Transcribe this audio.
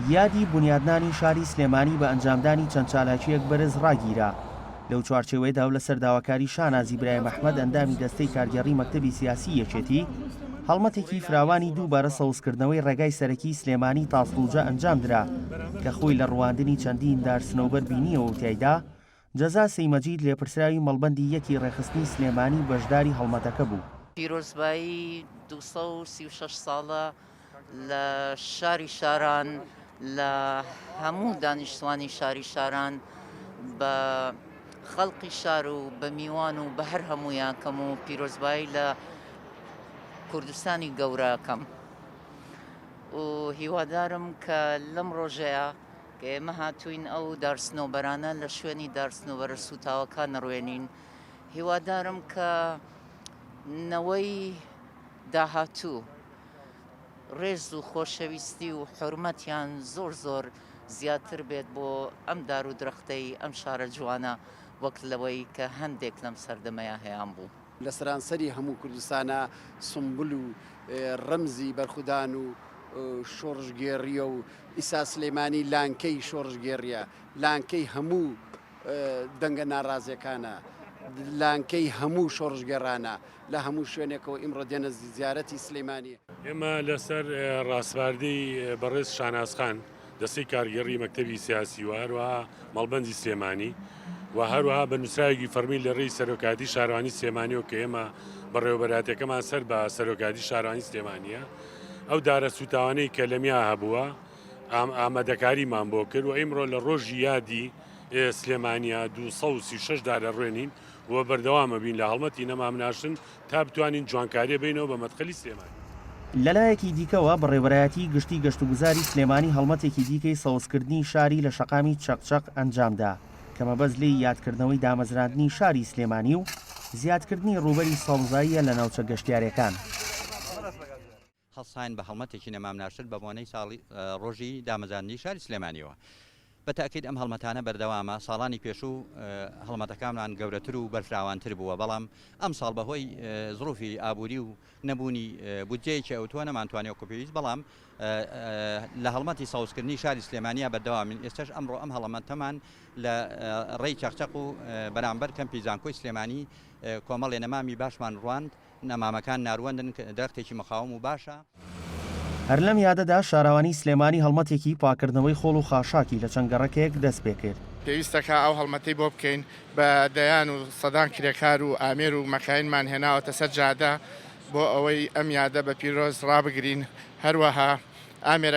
یادی بونیادنانی شاری سلێمانی بە ئەنجامدانی چەند چالاکییەک بەرز ڕاگیرا. لەو چوارچێوەیەدا و لەسەر داواکاری شانازی برایم ئەحمەد ئەندامی دەستەی کارگێڕی مەکتەبی سیاسیی یەکێتی، هەڵمەتێکی فراوانی دووبارە سەوزکردنەوەی ڕێگای سەرەکیی سلێمانی تاسڵوجە ئەنجامدرا کە خۆی لە ڕواندنی چەندین دار سنەوبەر بینییەوە و تیایدا جەزا سەیمەجید لێپرسراوی مەڵبەندی یەکی ڕێکخستنی سلێمانی بەشداری هەڵمەتەکە بوو. پیرۆزبایی دوو سەد و سی و شەش ساڵە لە شاری شاران لە هەموو دانیشتوانی شاری شاران بە خەڵقی شار و بە میوان و بە هەر هەموویان کەم و پیرۆزبایی لە کوردستانی گەورە کەم و هیوادارم کە لەم ڕۆژەیە کە ئێمە هاتووین ئەو دارسنۆبەرانە لە شوێنی دارسنۆبەرە سووتاوەکە نڕوێنین هیوادارم کە نەوەی داهاتوو ڕێز و خۆشەویستی و حرمەتیان زۆر زۆر زیاتر بێت بۆ ئەم دار و درەختەی ئەم شارە جوانە وەک لەوەی کە هەندێک لەم سەردەمەیە هەیان بوو. لە سەرانسەری هەموو کوردستانا سومبول و ڕەمزی بەرخودان و شۆڕشگێڕییە و ئیسا سلێمانی لانکەی شۆڕشگێڕییە، لانکەی هەموو دەنگە ناڕازیەکانە، لانکەی هەموو شۆڕشگێڕانە لە هەموو شوێنێکەوە ئیمڕۆ دێنە زیارەتی سلێمانی. ئێمە لەسەر ڕاسپاردەی بەڕێز شانازخان، دەستەی کارگێڕی مەکتەبی سیاسی و هەروەها مەڵبەندی سلێمانی و هەروەها بە نووسراوێکی فەرمی لە ڕێی سەرۆکاتی شارانی سلێمانیەوە کە ئێمە بەڕێوەبەراتەکەمان سەر بە سەرۆکاتی شارانی سلێمانە ئەو دارە سوتاوانەی کە لەمیا هەبووە ئام ئامادەکاریمان بۆ کرد و ئیمڕۆ لە ڕۆژی یادی سلێمانیا 236 دارە ڕوێنین و بەردەوامە بین لە هەڵمەتی نەمامناشن تا بتوانین جوانکاریە بینەوە بە مەدخەلی سلێمانی. لەلایەکی دیکەوە، بەڕێوەرایەتیی گشتیی گەشتوگوزاری سلێمانی هەڵمەتێکی دیکەی سەوزکردنی شاری لە شەقامی چەق چەق ئەنجامدا، کە مەبەست لێی یادکردنەوەی دامەزراندنی شاری سلێمانی و زیادکردنی ڕووبەری سەوزاییە لە ناوچە گەشتیارەکان. هەڵساین بە هەڵمەتێکی نەمامناشر بە بۆنەی ساڵی ڕۆژی دامەزاندنی شاری سلێمانیەوە. بە تەئکید ئەم هەڵمەتانە بەردەوامە، ساڵانی پێشوو هەڵمەتەکانمان گەورەتر و بەرفراوانتر بووە، بەڵام ئەمساڵ بە هۆی زڕوفی ئابووری و نەبوونی بودجەیەکی ئەوتۆ نەمانتوانی وەکو پێویست بەڵام لە هەڵمەتی سەوزکردنی شاری سلێمانیا بەردەوامین، ئێستەش ئەمڕۆ ئەم هەڵەمەتەمان لە ڕێی چەقچەق و بەرامبەر کەمپی زانکۆی سلێمانی کۆمەڵێ نەمامی باشمان ڕواند. نەمامەکان ناروەندن، کە درەختێکی مەقاوم و باشە. هەر لەم یادەدا شاراوانی سلێمانی هەڵمەتێکی پاککردنەوەی خۆڵ و خاشاکی لە چەند گەڕەکێک دەست پێ کرد. پێویستە کە ئەو هەڵمەتەی بۆ بکەین، بە دەیان و سەدان کرێکار و ئامێر و مەکاینمان هێناوەتە سەر جادە بۆ ئەوەی ئەم یادە بە پیرۆز ڕابگرین، هەروەها ئامێرەکان.